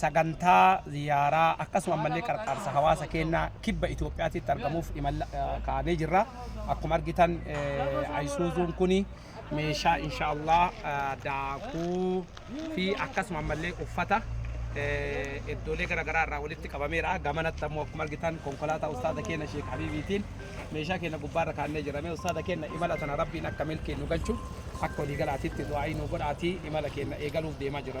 sagantaa ziyaaraa akkasuma ammallee qarqaarsa hawaasa keenyaa kibba Itoophiyaatitti argamuuf imala kaa'amee jirra. Akkuma argitan ayisuuzuun kuni meeshaa inshaallah daakuu fi akkasuma ammallee uffata iddoolee garaagaraa irraa walitti qabameera. Gamanatti ammoo akkuma argitan konkolaataa ustaaza keenya Sheek Habiibiitiin meeshaa keenya gubbaarra kaannee jirame. Ustaaza keenya imala tana rabbiin akka milkii nu galchu akka waliigalaatitti du'aa'ii nu godhaatii imala keenya eegaluuf deemaa jira.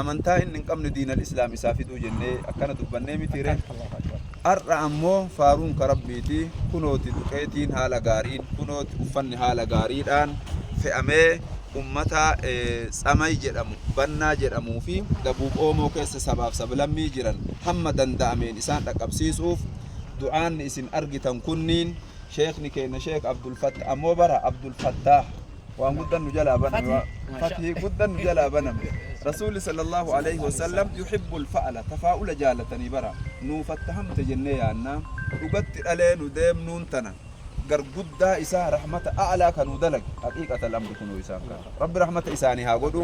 amantaa inni hin qabne diinal islaam isaa fiduu jennee akkana dubbannee mitiire har'a ammoo faaruun ka rabbiiti kunooti duqeetiin haala gaariin kunooti uffanni haala gaariidhaan fe'amee ummata tsamay jedhamu bannaa jedhamuu fi dabuub oomoo keessa sabaaf sablammii jiran hamma danda'ameen isaan dhaqqabsiisuuf du'aanni isin argitan kunniin sheekni keenna sheek abdulfatta ammoo bara abdulfattaa waan guddan nu jalaa baname waa- fathii guddan nu jalaa baname rasuulli sallallahu alaihi wasallam yuhibbul fa'ala tafaa'ula jaalatanii bara nuu fattahamte jennee yaannaa dhugatti dhalee nu deemnuun tana gar guddaa isaa rahmata a'laa kanuu dalage haqiiqata lamri kunuu isaan kana rabbi rahmata isaanii haa godhu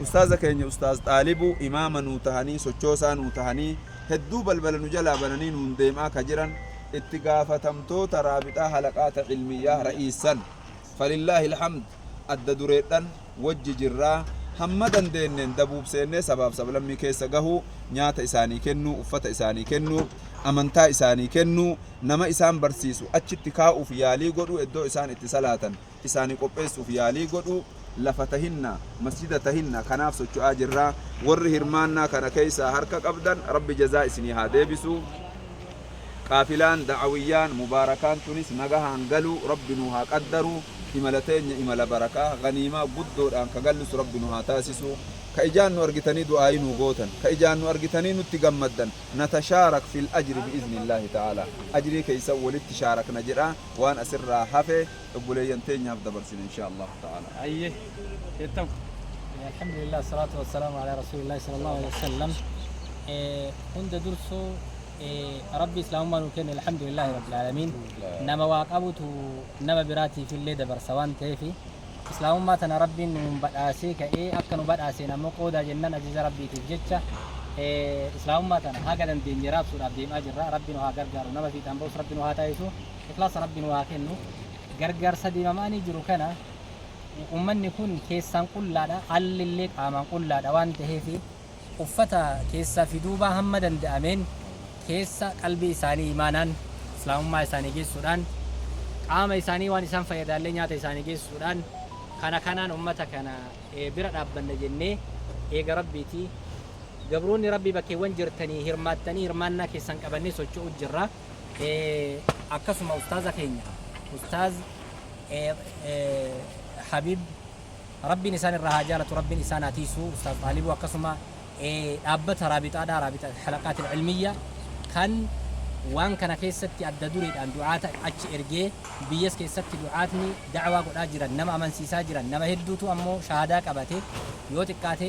ustaaza keenya ustaaz xaalibuu imaama nuu tahanii sochoosaa nuu tahanii hedduu balbala nu jalaa bananii nuun deemaa ka jiran itti gaafatamtoota Raabixaa Halaqaata Ilmiyyaah Ra'iissan. Falillaahi Alhamd adda dureedhan wajji jirra. Hamma dandeenneen dabuub seennee sabaaf sablammii keessa gahuu, nyaata isaanii kennuu, uffata isaanii kennuu, amantaa isaanii kennuu, nama isaan barsiisu achitti kaa'uuf yaalii godhuu eddoo isaan itti salaatan, isaani qopheessuuf yaalii godhuu, lafa tahinna, masjida tahinna kanaaf socho'aa jirra. Warri hirmaannaa kana keessaa harka qabdan Rabbi jazaa isinii haa deebisu. Qaafilaan da'awiyyaan mubaarakaan tunis nagahaan galuu Rabbi nuu haa qaddaru. Imala teenya imala barakaa, ghaniimaa guddoodhaan ka gallus Rabbi nu haa taasisu. Ka ijaan nu argitanii du'aa'ii nuu gootan, ka ijaan nu argitanii nutti gammaddan, natashaarak fil ajri bi'iznillaahi ta'aalaa. Ajrii keessan walitti shaarakna jedhaa waan asirraa hafe. obboleeyyan teenyaaf dabarsina inshaa Allaahu ta'aalaa. Hayyee jettam. Alhamdulillah salaatu wassalaamu ala rasuulillah sallallahu alaihi wasallam. Hunda dursuu rabbi islaamummaa nuu kenne alhamdulillah rabbil aalamiin. Nama waa qabutu nama biraatiif illee dabarsa waan ta'eef islaamummaa tana rabbiin nuun badhaasee ka'ee akka nu badhaaseen ammoo qoodaa jennaan ajaja rabbiitiif jecha islaamummaa tana haga dandeenye raabsuudhaaf deemaa jirra rabbi nu haa gargaaru nama fiixaan ba'us rabbi nu haa taasisu. Ikhlaasa Rabbi nuu haa kennu. Gargaarsa deemamaanii jiru kana ummanni kun keessaan qullaadha, alli illee qaamaan qullaadha waan taheef uffata keessaa fi duubaa hamma danda'ameen keessa qalbii isaanii imaanaan Islaamummaa isaanii geessuudhaan qaama isaanii waan isaan fayyadaallee nyaata isaanii geessuudhaan kana kanaan ummata kana bira dhaabbanna jennee eega Rabbiitii gabroonni Rabbii bakkeewwan jirtanii hirmaattanii hirmaannaa keessan qabannee socho'u jirra. akkasuma ustaaza keenya ustaaz habib rabbiin isaan irraa haa jaalatu rabbiin isaan haa tiisu ustaaz xaalibu akkasuma dhaabbata raabixaadha raabita halaqaatil ilmiyya kan waan kana keessatti adda dureedhaan du'aata achi ergee biyyas keessatti du'aatni da'waa godhaa jiran nama amansiisaa jiran nama hedduutu ammoo shahaadaa qabate yoo xiqqaate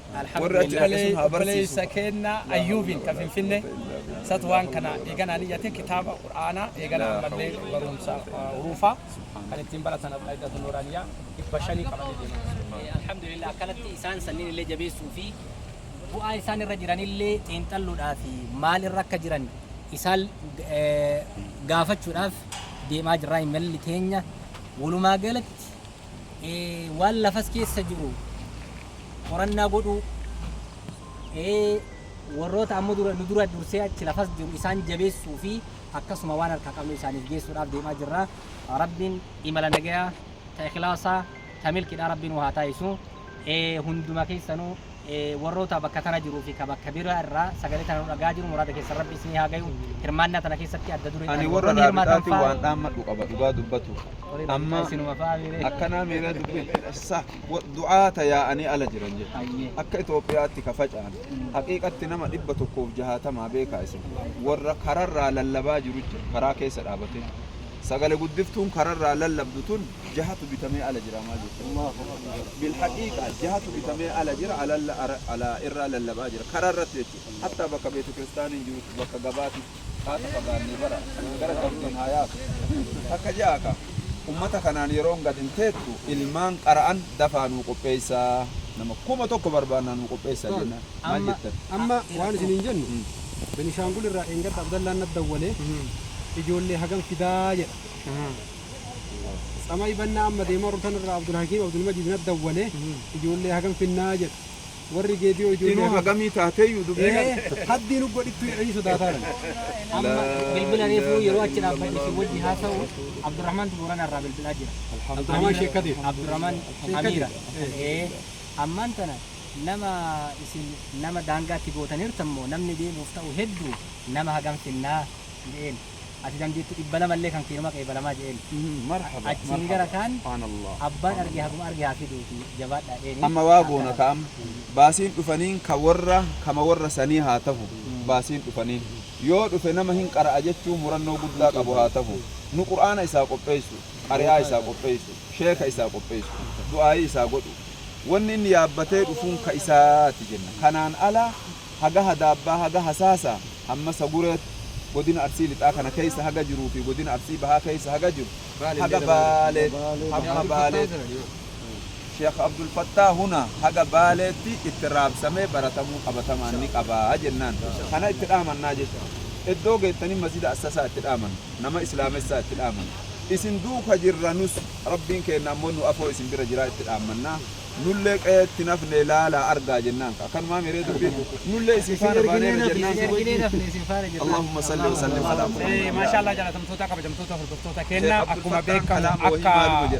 Warri achi dhaqe sun haa barsiisu. Obboleessa keenna Ayyuubiin ka Finfinnee isatu waan kana eeganaa niyyate kitaaba Qur'aanaa eeganaa ammallee barumsa huruufaa kan ittiin baratan Al-Qaidatu Nuuraaniyaa dhibba shanii qabanii deeman. Alhamdulillah akkanatti isaan sanniin illee jabeessuu fi bu'aa isaan irra jiran illee xiinxalluudhaa fi maal irra akka jiran isaan gaafachuudhaaf deemaa jirraa imalli keenya walumaa galatti Waan lafas keessa jiru qorannaa godhuu, warroota ammoo dura nu dura dursee achi lafas jiru isaan jabeessuu fi akkasuma waan harkaa qabnu isaaniif geessuudhaaf deemaa jirra. Rabbiin imala nagayaa ta ikhlaasaa ta milkiidhaa Rabbiin waa haa taasisu. ee hunduma keessanu ee warroota bakka tana jiruu fi ka bakka bira irraa sagalee tana nu dhagaa jiru muraada keessan rabbi isinii haa gayu hirmaannaa tana keessatti adda duree ani warra raabixaati waan dhaammadhu qaba dhugaa dubbatu amma isinuma fa'aa miiree akkanaa miiree dubbi sa du'aata yaa'anii ala jiran jedha akka Itoophiyaatti ka faca'an haqiiqatti nama dhibba tokkoof jahaatamaa beekaa isin warra kararraa lallabaa jiru jira karaa keessa dhaabatee sagale guddiftuun kararraa lallabdu tun jahatu bitamee ala jira maal jechuudha bilhaqiiqa jahatu bitamee ala jira alalla ara- ala irraa lallabaa jira karaa irratti jechuudha hatta bakka beetu kiristaaniin jirutti bakka gabaati haata fagaannee bara gara qabdiin haa yaatu takka ja'a ka ummata kanaan yeroon gad hin teettu ilmaan qara'an dafaa nuu qopheessaa nama kuma tokko barbaannaa nuu qopheessaa Taal, jennaan maal amma jettan amma waan isiniin jennu Mm. Benishaangul irraa dheengadda Abdallaan na dawwalee ijoollee hagam fidaa jedha. Tsamay Bannaa amma deemaa jirru tanarraa Abdulhakiim Abdulmajiid natti dawwale ijoollee hagam finnaa jedha. Warri Geediyoo ijoollee Inuu hagam hagamii taateeyyu dubbii Ee, kana. haddii nu godhittuu jedhanii sodaataa jiran. Amma bilbila reefuu yeroo achi dhaabbadhu si wajji haasa'u Abdurrahmaantu Boorana irraa bilbilaa jira. Abdurrahmaan Sheekh Kadiir. Abdurrahmaan Sheekh Amiira. Kadiir. Ee. Ee, Ammaan tana nama isin nama daangaatti gootaniirtan moo namni deemuuf ta'u hedduu nama hagam finnaa jedheen. Ati dandeetti dhibba lama illee kan keeruma qeebalamaa je'een. Achiin gara kaan abbaan arge haguma arge haa fiduuti jabaadhaa je'eeni. Amma waa goona ka amma. Baasiin dhufaniin ka worra kama worra sanii haa tahu. Baasiin dhufaniin. Yoo dhufe nama hin qara'a jechuun murannoo guddaa qabu haa tahu. Nu qur'aana isaa qopheessu, qari'aa isaa qopheessu, sheeka isaa qopheessu, du'aa'ii isaa godhu. Wanni inni yaabbatee dhufuun ka isaati jenna. Kanaan ala haga Hadaabbaa, haga Hasaasaa, hamma Sagureetti, godina Arsii Lixaa kana keessa haga jiruu fi godina Arsii Bahaa keessa haga jiru, haga Baaleetti, hamma Baaleetti, Sheekh Abdul Fattaah hunaa haga Baaleetti itti raabsamee baratamuu qabatamaan ni qaba jennaan. Kana itti dhaamannaa jechu. Eddoo geettanii Masjida Assasaa itti dhaamanna. Nama Islaamessaa itti dhaamanna. Isin duuka jirra nus, Rabbiin keenna ammoo nu afoo isin bira jiraa itti dhaammannaa. Nullee qe'eetti hin hafne laalaa argaa jennaan kaa. Kanumaamii ree dubbiin? Nullee isin faana baaneera jennaan kaa. Allaahumma salli wa sallim alaa Muhammad. Maashaa Allah jaalatamtootaa kabajamtoota hordoftoota keenna akkuma beekamu akka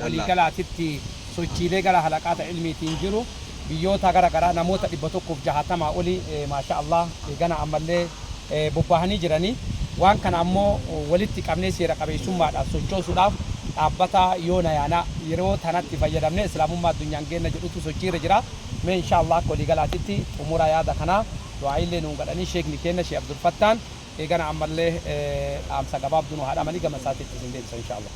walii galaatitti sochiilee gara halaqaata ilmiitiin jiru biyyoota gara garaa namoota 160 olii maashaa Allah eegana ammallee bobbahanii jiranii waan kana ammoo walitti qabnee seera qabeessummaadhaan sochoosuudhaaf dhaabbata yoo nayaana yeroo tanatti fayyadamnee islaamummaa addunyaan geenna jedhutu sochii irra jira mee inshaa allaah akka walii galaatitti xumura yaada kanaa du'aa'iillee nuun gadhanii sheekni keenna sheeh abdulfattaan eegana ammallee dhaamsa gabaabduu nu haa dhaamanii gama isaatitti isin deebisa inshaa allaah.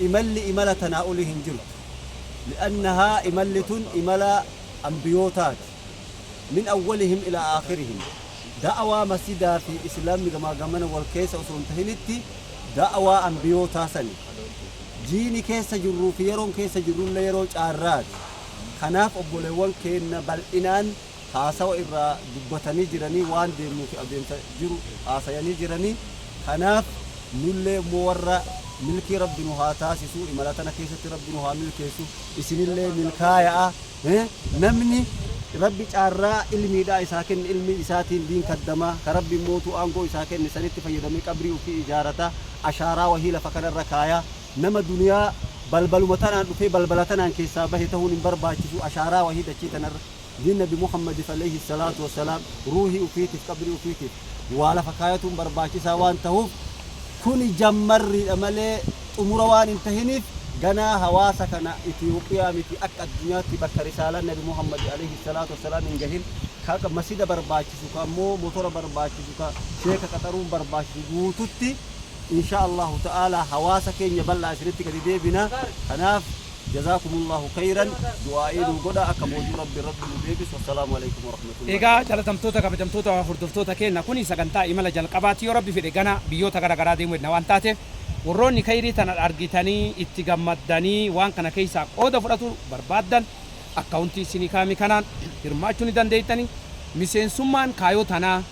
imalli imala tanaa olii hin jirtu. li'annahaa imalli tun imala anbiyootaati. min awwalihim ilaa aakhirihim. da'awaa masjidaa fi islaamni gamaa gamana wal keessa osoo hin tahinitti da'awaa anbiyootaa sani. jiini keessa jirruu fi yeroon keessa jirrullee yeroo caarraati. kanaaf obboleewwan keenna bal'inaan haasawa irraa dubbatanii jiranii waan deemnuu fi adeemsa jiru haasayanii jiranii kanaaf nullee immoo warra milkii rabbi nu haa taasisuu imala tana keessatti rabbi nu haa milkeessu isinillee milkaaya'a eh, namni rabbi caarraa ilmiidhaa isaa kenne ilmii isaatiin diin kaddama ka rabbi immootu aangoo isaa kenne sanitti fayyadamee qabrii ofii ijaarata ashaaraa wahii lafa kanarra kaaya nama duniyaa balbaluma tanaan dhufee balbala tanaan keessaa bahe tahuun hin barbaachisu ashaaraa wahii dachii tanarra Dini nabi muhammadif aleyhi salaatu wasalaam ruuhii ufiitif qabrii ufiitif waa lafa kaayatuun barbaachisaa waan tahuf kuni jammarriidha malee xumura waan hin tahiniif ganaa hawaasa kana itiyoophiyaa miti akka addunyaatti bakka risaalan nabi muhammadi aleyhi salaatu wasalaam hin gahin ka masida barbaachisu ka ammoo motora barbaachisu ka sheeka qaxaruun barbaachisu guututti Inshaa Allaahu ta'aalaa hawaasa keenya bal'aa isinitti gadi deebina. Kanaaf Jazaakumullaahu kheeyran du'aa'ii nuu godhaa akka boojuu Rabbi irratti nu deebisu. Wassalaamu aleykum warahmatullaahi Egaa wabarakaatuh. jalatamtoota kabajamtoota hordoftoota keenna kuni sagantaa imala jalqabaati yoo rabbi fedhe gana biyyoota gara garaa deemu hedna waan taateef warroonni keyrii tana argitanii itti gammaddanii waan kana keeysaa qooda fudhatu barbaaddan akkaawuntii issinii kaame kanaan hirmaachuu ni dandeettani miseensummaan kaayoo tanaa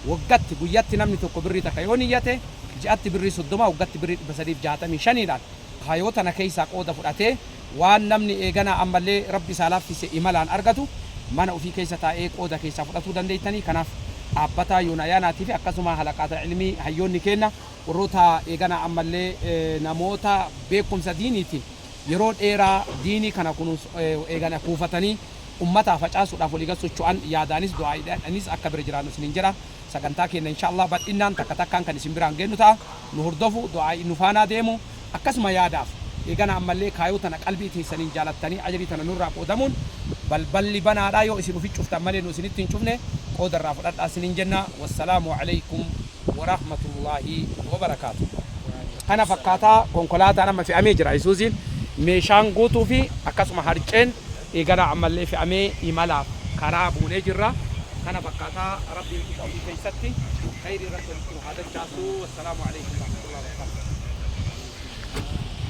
Waggatti, guyyatti namni tokko birrii takka yoo niyyate, ji'atti birrii 30, waggatti birrii 365 dhaan kayoo tana keessaa qooda fudhatee waan namni eeganaa ammallee Rabbi isaa laaffise imalaan argatu mana ufii keessa taa'ee qooda keessaa fudhatuu dandeettanii kanaaf dhaabbataa yoona ayaanaatii fi akkasuma halaqaata ilmii hayyoonni keenna warroota eeganaa ammallee namoota beekkumsa diiniitiin yeroo dheeraa diinii kana kunuunsu eegana kuufatanii ummataa facaasuudhaaf walii gad socho'an yaadaanis du'aa'iidhaanis akka bira jiraannu isiniin jedha. Sagantaa keenna inshaa Allaah bal'innaan takka takkaan kan isin biraan geennu ta'a. Nu hordofu, du'aa'ii nu faanaa deemu. Akkasuma yaadaaf eegana ammallee kaayoo tana qalbii teessaniin jaalattanii ajrii tana nurraa qoodamuun balballi banaadha. Yoo isin ufi cuftan malee nu isinitti hin cufne. Qooda irraa fudhadhaa isiniin jenna. Wassalaamu aleykum warahmatullaahi wabarakaatuh. Kana fakkaata. Konkolaataan amma fe'amee jira. Isuuziin meeshaan guutuu fi akkasuma harceen. Eeganaa ammallee fe'amee imalaaf karaa buunee jirra. Kana fakkaata Rabbiin qixa ofii keessatti kheyrii irratti walitti nu haa dachaasuu. Wassalaamu Aleykum Warahmatullahi Wabarakaatuh.